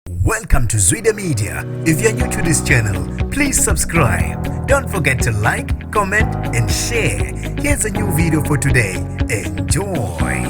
Welcome to Zwide Media. If you're new to this channel, please subscribe. Don't forget to like, comment and share. Here's a new video for today. Enjoy.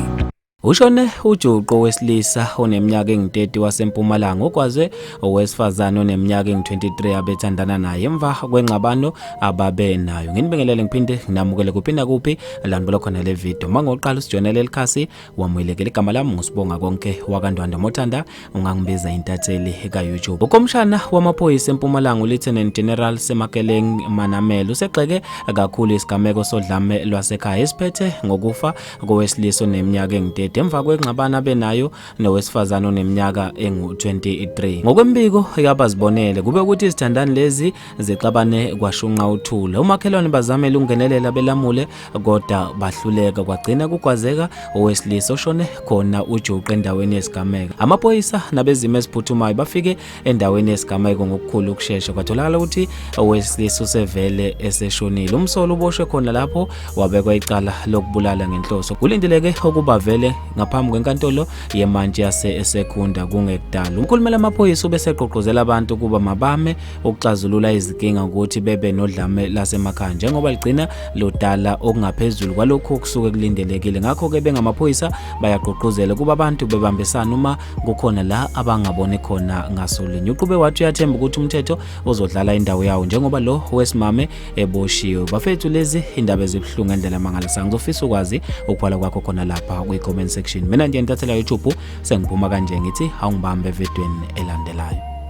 Ushone ujuqu wesilisa oneminyaka engu-30 waseMpumalanga okwaze owesifazane oneminyaka engu-23 abethandana naye emva kwengxabano ababe nayo. Nginibingelele ngiphinde nginamukele kuphi nakuphi la nibona khona le video. Uma ngoqala usijoyinele elikhasi wamuyelekela igama lami ngusibonga konke wakandwanda mothanda ungangibiza intatheli ka-youtube ukomshana wamaphoyisa empumalanga ulieutenant general semakeleng manamela usegxeke kakhulu isigameko sodlame lwasekhaya esiphethe ngokufa kowesilisa oneminyaka engidede emva kwengxabana benayo nowesifazane oneminyaka engu-23 ngokwembiko yabazibonele kube ukuthi izithandani lezi zixabane kwashunqa uthula umakhelwane bazamele ukungenelela belamule kodwa bahluleka kwagcina kukwazeka owesilisa oshone khona ujuqe endaweni yesigameko amaphoyisa nabezimo eziphuthumayo bafike endaweni yesigameko ngokukhulu ukushesha kwatholakala ukuthi owesilisa usevele eseshonile umsolo uboshwe khona lapho wabekwa icala lokubulala ngenhloso kulindeleke ukuba vele ngaphambi kwenkantolo yemantshi yase esekunda kungekudala umkhulumela amaphoyisa ubeseqoqozela abantu ukuba mabame ukuxazulula izinkinga ukuthi bebe nodlame lasemakhaya njengoba ligcina lodala okungaphezulu kwalokhu okusuke kulindelekile ngakho-ke bengamaphoyisa bayagqugquzela ukuba abantu bebambisana uma kukhona la abangaboni khona ngasolinye uqube wathi uyathemba ukuthi umthetho uzodlala indawo yawo njengoba lo wesimame eboshiwe bafethu lezi indaba ezibuhlungu ngendlela mangalisayo ngizofisa ukwazi ukubhala kwakho khona lapha kwi-comment section mina nje ntathela youtube sengiphuma kanje ngithi awungibambe evidweni elandelayo